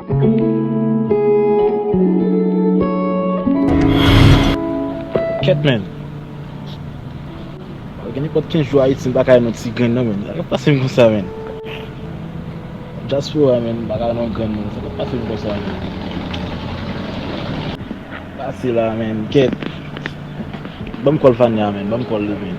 Kèt menn. Mwen gen nenpòt 15 jou Ayiti m pa ka wè non ti grenn non menn. Sa kap pase m konsa menn. Dyaspora menn m pa ka wè non grenn menn. Sa kap pase m konsa menn. Pase la menn. Kèt. Banm kòl Fania menn. Banm kòl li menn.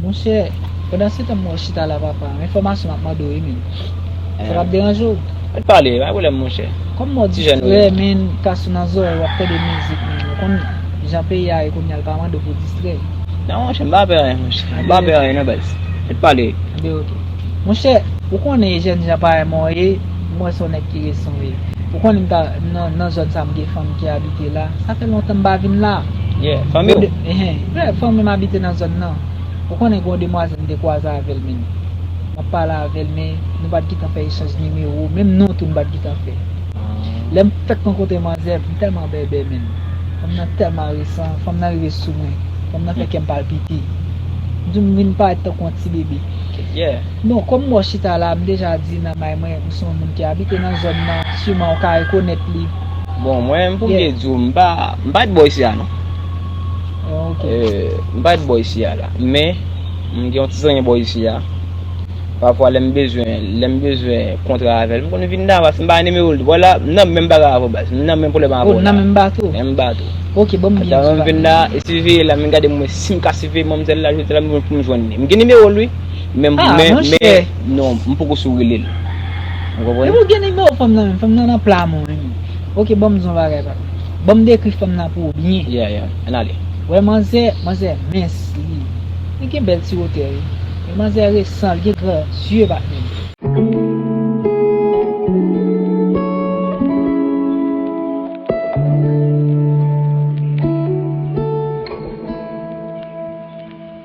Monchè, pandan se tan m wè w chita la papa, enfòmasyon m ap mande w yo menm, sa pa p deranje w? An n pale, pa gen pwoblèm monchè. Kòm mò w distrè menn ka sou nan zòrèy w ap tande mizik menn, ou konn jan peyi a ye kounye a l pa mande w pou w distrè l. Non monchè, m pa pè anyen monchè, m pa pè anyen non baz. An n pale. Anben ok. Monchè, ou konnen e jèn jan parèy mwen w ye, m wè se w nèg ki resan w ye. Ou konnen m ta, nan zòn sa m gen fanmi ki abite la, sa fè lontan m pa vin la. Yeah, fanmi w? Frè, fanmi m abite nan zòn nan. Ou konnen gen yon demwazèl m te kwaze avè l menm. M ap pale avè l men, nou pa t gentan fè echanj nimewo, menm non tou nou pa t gentan fè. Lè m fèk rankontre manzè, m tèlman bèbè menm. Fanm nan tèlman resan, fanm nan rive sou mwen. Fanm nan fè kè m palpite. M di w m vin parèt tankou yon ti bebe. Bon, kòm m wè w chita la, m deja di nan may mwen, ou se yon moun ki abite nan zòn nan, siman ou ka rekonèt li. Bon, mwen, pou m te di w, m pa t bò isi a non. M pa ret bò isi a la. Men, m gen yon ti zanmi bò isi a. Pafwa lè m bezwen, lè m bezwen kontra avè l, m konn vin Davas. M pa gen nimewo l tou. Wè la, m nan menm bagay avè w baz. M nan menm pwoblèm avè w la. O, nan menm bato? Menm bato. Ok, ban m biyè m sou valiz la. Ata m vin la, e siveye la, m vin gade m wè si m ka siveye manmzèl la jodi a la m jwenn pou m jwenn li. M gen nimewo l wi. Men, men, men. A, monchè! Non, m poko sou rele l. Ou konprann? Epi ou gen nimewo fanm nan menm? Fanm nan nan pla mwen wi. Ok, ban m di w yon bagay pa m. Banm dekri fanm nan pou ou byen. Yeah yeah an ale. Wè manzè manzè mens li li gen bèl ti wotè wi men manzè resan li gen gran zye batman.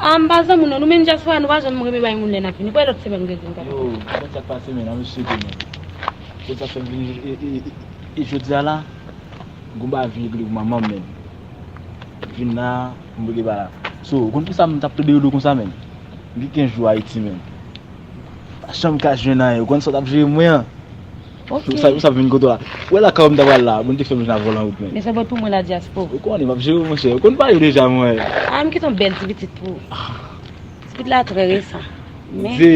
Ah m pa zanmi w non, nou menm dyaspora nou pa janm renmen bay moun lè n ap vini. Nou pral lòt semèn mwen kredi m kapab. Yo, mwen sa k pase menm la, mwen sezi menm. Mwen sa k fè m vini e jodi a la, gon bagay vin regle pou manman m menm. M vin la, m wete ba la. So, ou konn pou sa m t ap tòde yo dou kon sa menm? M gen 15 jou Ayiti menm. Pa janm ka jwenn anyen. Ou konn sa w t ap jere mwen an? Ok. Ou sa w vin kote w la? Ou wè lakay ou m ta pral la a? Bon, ou te fè m vin avè w lan wout mwen. Men se bon pou mwen la dyaspo. Ou konnen m ap jere w monchè. Ou konn pale deja mwen. A, m gen ton bèl ti pitit pou ou. Ti pitit la trè resan. Men. Ze.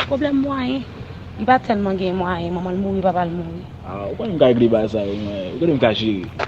Pwoblèm mwayen. Li pa tèlman gen mwayen. Manman l mouri, papa l mouri. A, ou konnen m ka regle bagay sa yo mwen. Ou konnen m ka jere.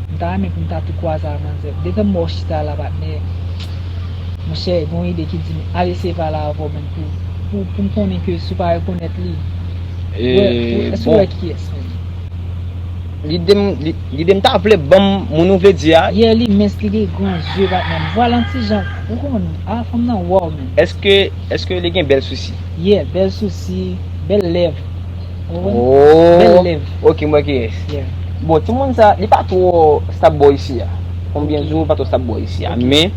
M ta renmen pou m ta tou kwaze ak manzè. Detan m wè w chita la patnè, monchè gen yon ide ki di m al eseye pale avè w menm pou pou m konnen ke si w pa rekonèt li, ou wè, èske ou wè kiyès menm? Lide m, lide m ta vle ban m moun ou vle di a. Yeah li mens li gen gran zye patnè m. Vwa l an ti jan, ou konn, a fanm nan wow menm. Èske, èske li gen bèl sousi? Yeah, bèl sousi, bèl lèv. Ooh ok mwen ki yes. Bon timoun sa li pa two stab bo isi a. Konbyen jou li pa two stab bo isi a. Men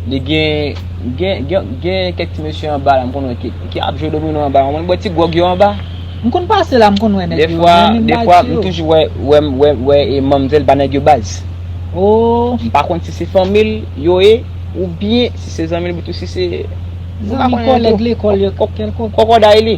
li gen gen kek ti mesye anba la m konn wè ki ap jwe domino anba. Ou konn bwè ti gwòg yo anba. M konn pase la m konn wè nèg yo. Defwa defwa m toujou wè wè e manmzèl ba nèg yo baz. M pa konn si se fanmi l yo ye oubyen si se zanmi l pou tou si se. Zanmi kolèg lekòl yo kèlkot. Kòkòday li.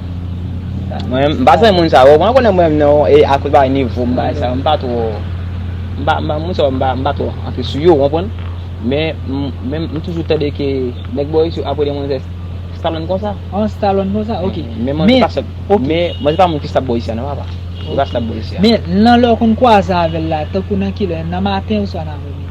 Mwen m pa zanmi moun sa yo, mwen konnen mwen menm nan e akoz bagay nivo m bagay sa yo, m pa twò m pa moun sa yo m pa twò antre sou yo ou konprann. Men menm m toujou tande ke nèg Boris yo ap rele manzè Stallone konsa. An Stallone konsa ok. Men manzè pa stab ok. Men manzè pa moun ki stab Boris la nan papa. Li pa stab Boris la. Men nan lè ou konn kwaze avè l la tankou nan kilè? Nan maten oswa nan apremidi?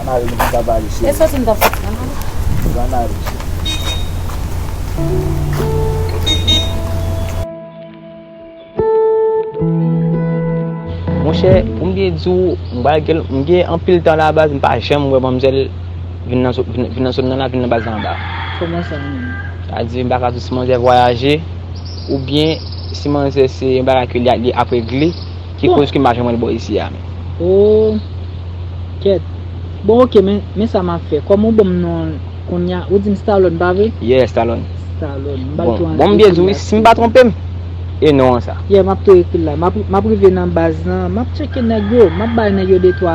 An ale nou vin kaba li cheri. E soti m tap soti an ale. Ok an ale cheri. Monchè pou m byen di w m bal gen m gen anpil tan la baz m pa janm wè manmzèl vin nan vin nan zòn nan la vin nan baz la anba. Kòman sa menm? Sa di m pa ka di w si manzè vwayaje oubyen si manzè se yon bagay ke li ap regle. Ki koz ke m pa janm wè l bò isi a menm. Ooh kèt Bon ok men men sa map fè kòm ou banm non l kounya ou dim Stallone pa vre? Yeah Stallone. Stallone m bal tou an Bon m byen di w wi si m pa twonpe m e non an sa. Yeah map tou ekri l la map rive nan baz lan map tcheke nèg yo map bay nèg yo de twa